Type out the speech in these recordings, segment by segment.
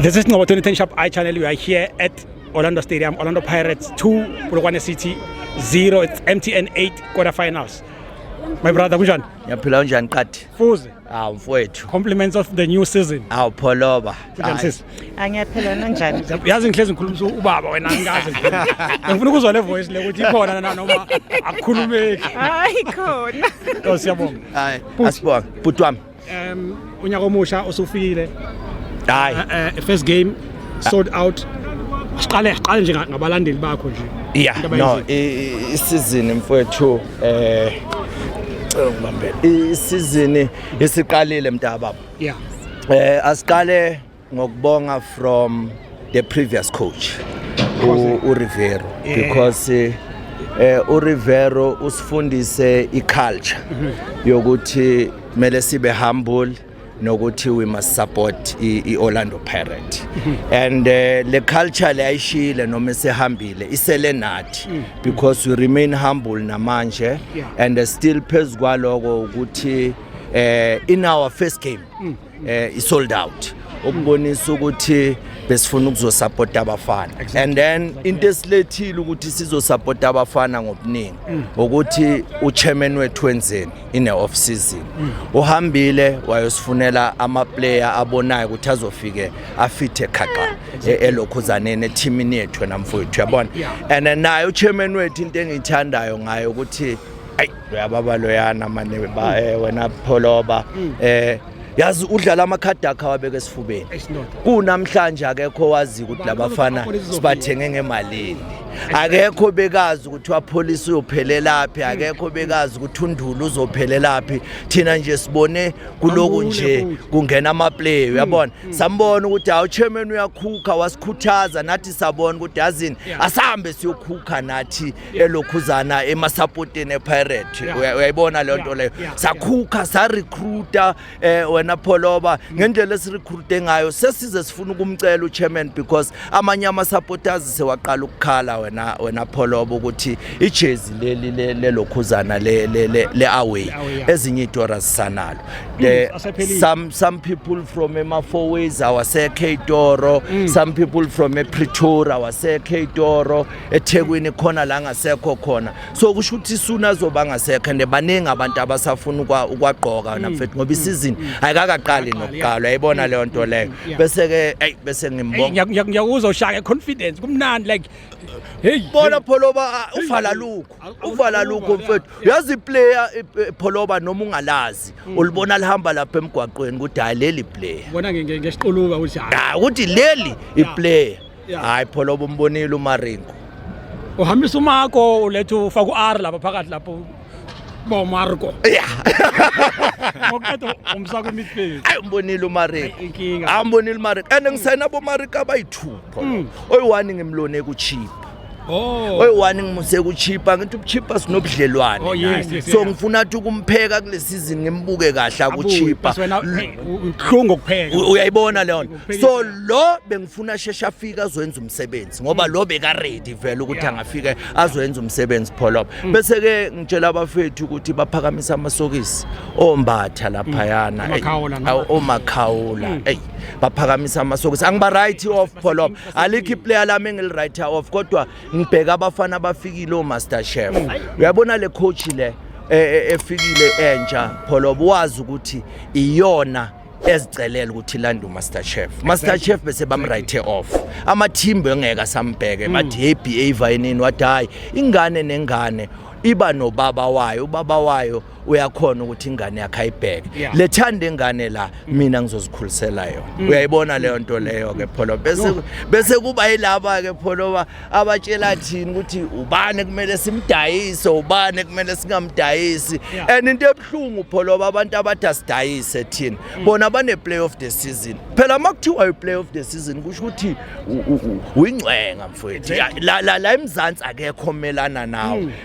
This is Ngobo 2010 Sharp Eye Channel. We are here at Orlando Stadium, Orlando Pirates 2, Polokwane City 0. It's MTN 8 quarterfinals. My brother, kunjani? Ngiyaphila unjani qadi? Fuze. Awu mfowethu. Compliments of the new season. Awu pholoba. Sisi. Angiyaphela nanjani. Yazi ngihlezi ngikhulumisa ubaba wena ngikaze. Ngifuna ukuzwa le voice le ukuthi ikhona na noma akukhulumeki. Hayi khona. Lo siyabonga. Hayi. Asibonga. Bhuti wami. Um unyaka omusha osufikile. Hayi. Eh, eh, first game sold out siqale siqale nje ngabalandeli bakho nje yeah no isizini mfowethu eh ngibambele isizini isiqalile mntaba yeah eh asiqale ngokubonga from the previous coach u Rivero because eh, eh u Rivero usifundise i culture mhm. yokuthi mele sibe humble nokuthi we must support i-Orlando Pirate and uh, le culture le ayishile noma esehambile isele nathi mm. because we remain humble namanje and uh, still phezu kwaloko ukuthi eh in our first game mm. eh i sold out ukubonisa ukuthi besifuna ukuzosapota abafana and then into esilethile ukuthi sizosapota abafana ngobuningi mm. ukuthi uchairman wethu wenzeni ine off season mm. uhambile wayosifunela ama player abonayo ukuthi azofike afithe khaqa e, elokhuzaneni ethimini yethu namfowethu yabona and naye uchairman wethu into engiyithandayo ngayo ukuthi ayi uyababa loyana mane ba mm. eh, wena pholoba mm. eh yazi udlala amakhadi akhe awabeke esifubeni kunamhlanje akekho wazi ukuthi labafana sibathenge ngemalini akekho bekazi ukuthi wapholisa uyophelelaphi akekho bekazi ukuthi undulu uzophelelaphi thina nje sibone kuloku nje kungena amaplay hmm. uyabona hmm. sambona ukuthi hawu chairman uyakhukha wasikhuthaza nathi sabona ukuthi yazini asambe siyokhukha nathi elokhuzana emasapotini epirate uyayibona leyo nto leyo sakhukha sarecruita um wena pholoba mm. ngendlela esirecruite ngayo sesize sifuna ukumcela uchairman because amanye amasapoters sewaqala ukukhala wena wena pholoba ukuthi ijezi leli lelokhuzana le-away ezinye itora zisanalo mm, some, some people from emafoways awasekho itoro mm. some people from epretoria awasekho itoro ethekwini khona la ngasekho khona so kusho ukuthi isuna azoba ngasekho and baningi abantu abasafuna ukwagqoka mm. namfethu ngoba mm. isizini mm. ayikakaqali nokuqalwa yayibona leyo nto leyo bese-ke eyi bese ngimbonga ngiyakuzwa ushaka confidence kumnandi like heyi bona pholoba uvala lukho uvala lukho mfethu uyazi iplayer pholoba noma ungalazi ulibona lihamba lapha emgwaqweni ukuthi hayi leli player bona ngesiquluka ukuthi hayi ukuthi leli iplayer hayi pholoba umbonile umaringo uhambisa umako uletha ufaka u-r lapha phakathi lapho bo marco ya ngokuqeda umsa kwemidfield ayi umbonile umaringo inkinga ambonile umaringo and ngisayina abomaringo abayithupho Mm. oyi-one ngimlone kuchipa oh oyi-one ngimuse kuchipa ngithi ubuchipa sinobudlelwane Oh, yes, naye. yes, so yes. ngifuna athi ukumpheka kule sizini ngimbuke kahle akuchipa bese wena uhlungu ukupheka U- uyayibona leyo nto so lo bengifuna sheshe afike azoyenza umsebenzi ngoba lo bekaredi vele ukuthi angafike azoyenza umsebenzi pholop mm. bese-ke ngitshela abafethu ukuthi baphakamise amasokisi ombatha laphayana mm. omakhawula mm. eyi baphakamise amasokisi angiba-right off pholop alikho iplayer lami engili-right off kodwa ngibheka abafana abafikile omaster chef uyabona le coach le e, e, efikile entsha pholobo wazi ukuthi iyona ezicelela ukuthi landa umaster chef master chef bese bamrighte off amathimba engeke asambheke bathi hey behavior yenini wathi hayi ingane nengane iba nobaba wayo ubaba wayo uyakhona ukuthi ingane yakhe ayibheke Yeah. lethanda ingane la mina ngizozikhulisela yona uyayibona leyo nto leyo ke pholo bese bese kuba yilaba ke pholo ba abatshela thini ukuthi ubani kumele simdayise ubani kumele singamdayisi and into ebuhlungu pholoba abantu abathi asidayise thina mm. bona bane-play of the season phela uma kuthiwa i-play of the season kusho ukuthi uyingcwenga mfowethu la emzansi akekho melana nawo mm.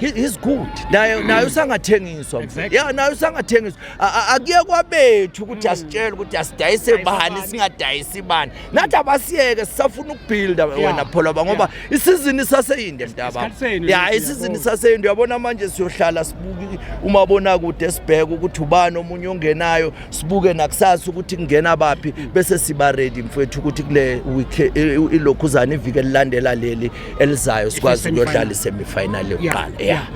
He- he's good naye naye usangathengiswa Exactly. ya naye usangathengiswa A- a- akuye kwabethu ukuthi asitshele ukuthi asidayise Dayisa bani bani. singadayisi bani nathi abasiyeke sisafuna ukubuilda wena pholoba ngoba isizini isaseyinde mntaba Isikhathi senu, ya yes, isizini yabo. isaseyinde uyabona manje siyohlala sibuke umabonakude sibheke ukuthi ubani omunye ongenayo sibuke nakusasa ukuthi kungena baphi bese siba ready mfethu ukuthi kule week eh, ilokhuzana ivike lilandela leli elizayo sikwazi ukuyodlala isemi final yokuqala yeah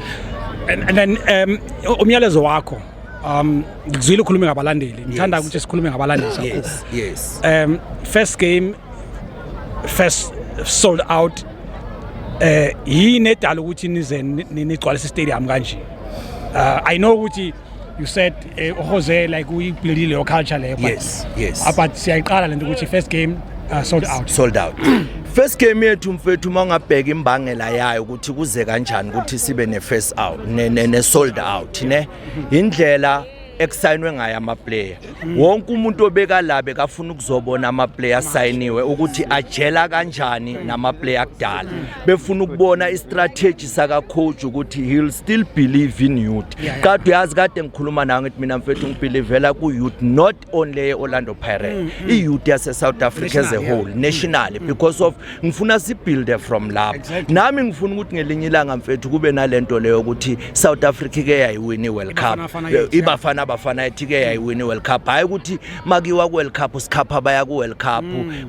and, and then um umyalezo wakho um ngizwile ukhuluma ngabalandeli ngithanda ukuthi sikhulume ngabalandeli sakho yes yes um first game first sold out eh yini edala ukuthi nize nigcwalise stadium kanje uh, i know ukuthi you said eh, uJose like uyibuildile your culture leyo but yes yes ah, but siyayiqala lento ukuthi first game uh, sold out sold out first game yethu mfethu uma ungabheka imbangela yayo ukuthi kuze kanjani ukuthi sibe ne first out ne, ne, ne sold out ne indlela ekusayinwe ngayo ama player wonke umuntu obekalabe kafuna ukuzobona amaplayer asayiniwe ukuthi ajela kanjani namaplayer akudala befuna ukubona istrategy sakacoach ukuthi he'll still believe in youth kade uyazi kade ngikhuluma nawe ngithi mina mfethu ngibelivela ku-youth not only ye-orlando pirate mm, mm. i-youth yase-south africa as a whole nationally because of ngifuna sibuilde from lapho exactly. nami ngifuna ukuthi ngelinye ilanga mfethu kube nalento leyo ukuthi South Africa ke yayiwini World Cup ibafana abafana ethi ke yayiwini World Cup hayi ukuthi makiwa ku World Cup sikhapha baya ku World Cup mm.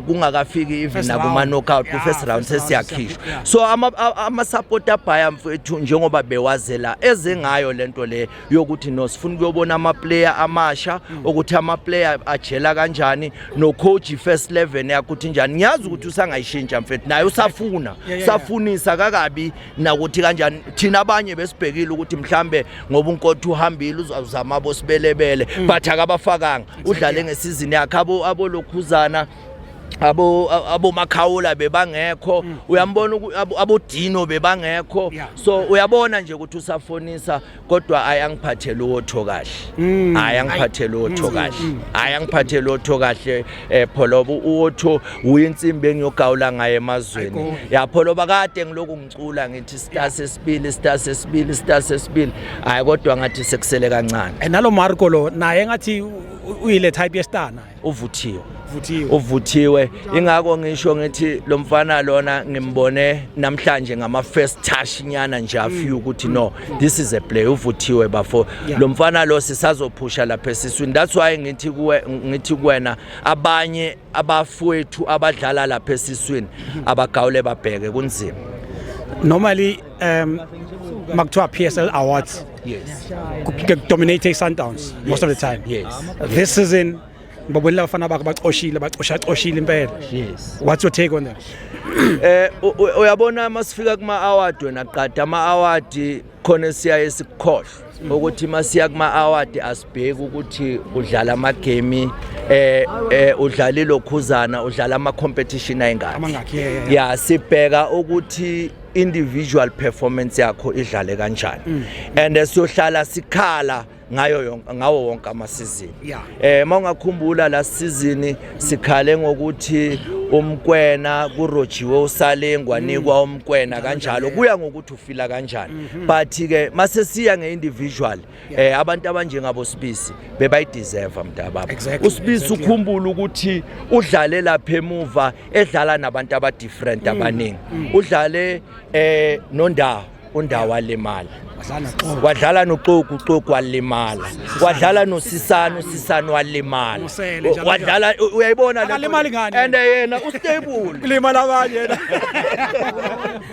kungakafiki even na kuma knockout ku first round sesiyakhishwa so ama ama support abhaya mfethu njengoba bewazela ezengayo lento le yokuthi no sifuna ukuyobona amaplayer amasha mm. ukuthi amaplayer ajela kanjani no coach first 11 yakuthi njani ngiyazi ukuthi usangayishintsha mfethu naye usafuna safunisa kakabi nakuthi kanjani thina abanye besibhekile ukuthi mhlambe ngoba unkotha uhambile uzazama bosibelebele mm. but akabafakanga udlale ngesizini yakhe abo abolokhuzana abo abo makhawula bebangekho mm. uyambona abo dino bebangekho yeah. so uyabona nje ukuthi usafonisa kodwa ayangiphathe lotho kahle mm. ayangiphathe lotho mm. kahle mm. ayangiphathe lotho kahle eh pholoba uotho uyinsimbi engiyogawula ngaye emazweni ya pholoba kade ngiloku ngicula ngithi star sesibili star sesibili star sesibili hayi kodwa ngathi sekusele kancane eh, nalo Marco lo naye ngathi uyile type ye star naye uvuthiwe vuthiwe uvuthiwe ingakho ngisho ngithi lo mfana lona ngimbone namhlanje ngama first touch nyana nje a few ukuthi no this is a play uvuthiwe bafo lo mfana lo sisazophusha lapha esiswini that's why ngithi kuwe ngithi kuwena abanye abafowethu abadlala lapha esiswini abagawule babheke kunzima normally um makuthiwa PSL awards yes dominate iSundowns most of the time yes this season ngibabonile abafana bakho bacoshile bacosha coshile impela yes what's your take on that eh uyabona masifika kuma award wena qada ama award khona siyaye sikukhohlwe ukuthi masiya kuma award asibheki ukuthi udlala ama game eh eh udlalile okhuzana udlala ama competition ayingaki ya sibheka ukuthi individual performance yakho idlale kanjani mm. and siyohlala sikhala ngayo yonke ngawo wonke amasizini yeah. eh mawungakhumbula la season sikhale ngokuthi umkwena kurojiwe usalengwa mm. nikwa umkwena kanjalo kuya ngokuthi ufila kanjani mm -hmm. but ke mase siya ngeindividual eh abantu abanjengabo Sibisi bebayideserve mntababa exactly, uSibisi exactly. ukhumbula ukuthi udlale lapha emuva edlala nabantu aba different mm, abaningi mm. udlale eh nondawo undawo walimala wadlala noxoku uxoku walimala wadlala nosisana usisana walimala wadlala uyayibona le and yena ustable limala abanye yena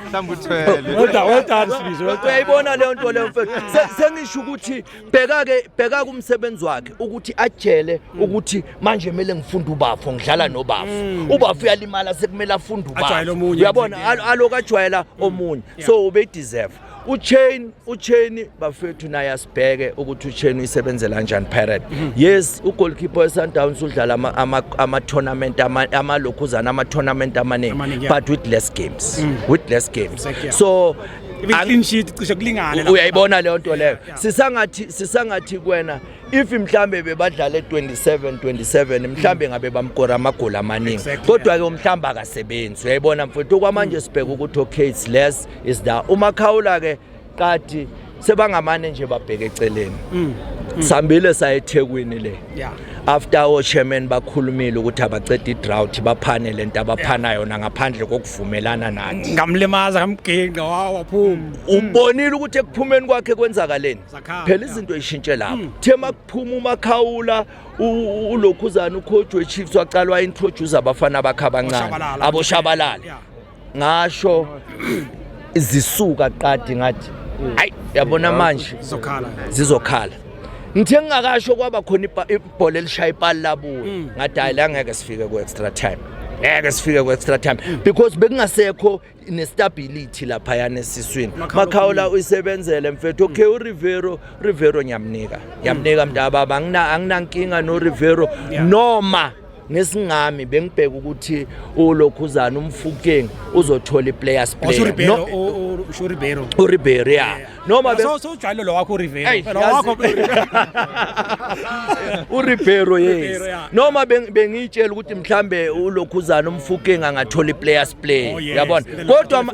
mhlawumbe uthwele well done well done sibizo well done uyayibona leyo nto leyo mfethu Se- sengisho ukuthi bheka ke bheka kumsebenzi wakhe ukuthi ajele ukuthi manje kumele ngifunde ubafo ngidlala nobafo ubafo uyalimala sekumele afunde Mm. Ajwayele ubafo omunye uyabona nje. al- aloku ajwayela omunye so ubeyideserve uchain Ucheni bafethu naye asibheke ukuthi Ucheni uyisebenzela kanjani Pirate. Mhm. Yes, ugoalkeeper weSundowns udlala ama ama, ama tournament ama amalokhuzana ama tournament amaningi but with less games. Mm. With less games. So clean sheet cishe kulingane uyayibona leyo nto leyo sisangathi sisangathi kwena if mhlambe bebadlale 27 27 mhlambe mm. ngabe bamkora amagoli amaningi kodwa ke umhlambe akasebenzi uyayibona mfowethu kwamanje mm. sibheka ukuthi okay it's less is da umakhawula ke qadi sebangamane nje babheke eceleni mm. Mm. sambile sayethekwini le yeah. after ochairman bakhulumile ukuthi abaceda idrought baphane lento abaphana yona ngaphandle kokuvumelana nathi ngamlimaza ngamginqa wawaphuma mm. ubonile ukuthi ekuphumeni kwakhe kwenzakaleni phela izinto ishintshe lapho mm. the makuphuma umakhawula ulokhuzana ukhojwe chiefs waqalwa introduce abafana bakhe abancane aboshabalala ngasho zisuka qadi ngathi hayi yabona manje zizokhala ngithe ngingakasho kwaba khona ibhola elishaya ipali labuya mm. ngathi hayi la ngeke sifike ku-extra time ngeke sifike ku-extra time mm. because bekungasekho nestability laphayana esiswini makhawula uyisebenzele mfethu okay mm. urivero urivero ngiyamnika ngiyamnika mntababa anginankinga norivero noma ngesingami bengibheka ukuthi ulokhuzana umfukeng uzothola iplayers oh, player no uRibeiro uRibeiro yeah noma so so ujwayele lo wakho uRibeiro lo wakho uRibeiro yes noma bengitshela ukuthi mhlambe ulokhuzana umfukeng angathola iplayers player oh, yabona kodwa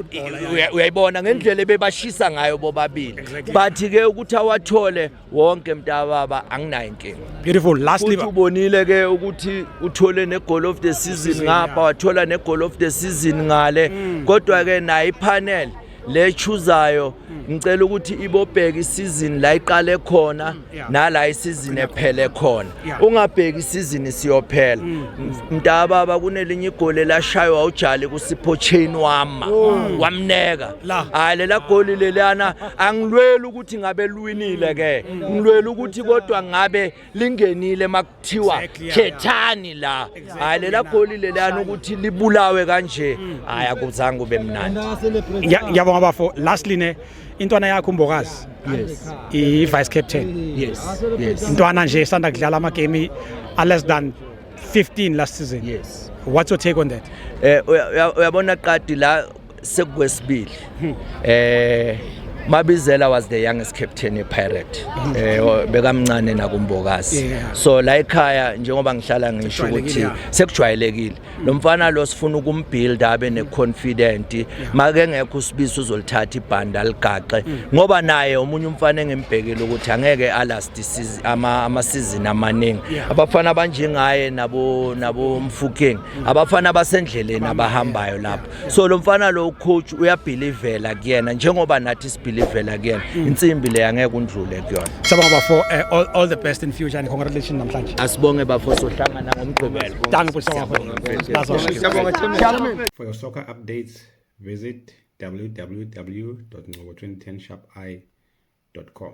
uyayibona ngendlela ebebashisa ngayo bobabili but ke ukuthi awathole wonke mntababa anginayo inkinga beautiful lastly uthi ubonile ke ukuthi uthole ne goal of the season ngapha wathola ne goal of the season ngale mm. kodwa ke nayi panel le chuzayo mm. ngicela ukuthi ibobheka isizini la iqale khona mm, nala isizini ephele khona ungabheki isizini siyophela mntababa kunelinye igoli lashaywa ujali kusipho chain wama oh. wamneka hayi lela goli lelana angilweli ukuthi ngabe lwinile ke ngilwela ukuthi kodwa ngabe lingenile makuthiwa khethani la hayi lela goli lelana ukuthi libulawe kanje hayi akuzange ube mnandi ngiyabonga bafo lastly ne intwana yakho umbokazi yes i vice captain yes yes intwana nje sanda kudlala ama game a less than 15 last season yes what's your take on that eh uyabona qadi la Sekukwesibili. Hmm. Eh Mabizela was the youngest captain ePirate hmm. eh bekamncane nakumbokazi so la ekhaya njengoba ngihlala ngisho ukuthi sekujwayelekile hmm. lo mfana lo sifuna ukumbuild abe neconfident make ngekho usibiso uzolithatha ibhanda ligaxe ngoba naye omunye umfana engembhekile ukuthi angeke alast season ama ama season amaningi abafana abanjengaye nabo nabo mfukeng abafana basendleleni abahambayo lapho so lo mfana lo coach uyabhilivela kuyena njengoba nathi sibhilivela kuyena mm. insimbi le angeke undlule kuyona siyabonga bafo eh, all, all the best in future and congratulations namhlanje asibonge bafo sohlangana ngomgqibelo danke bhuti for your soccer updates visit www.ngobo2010sharpi.com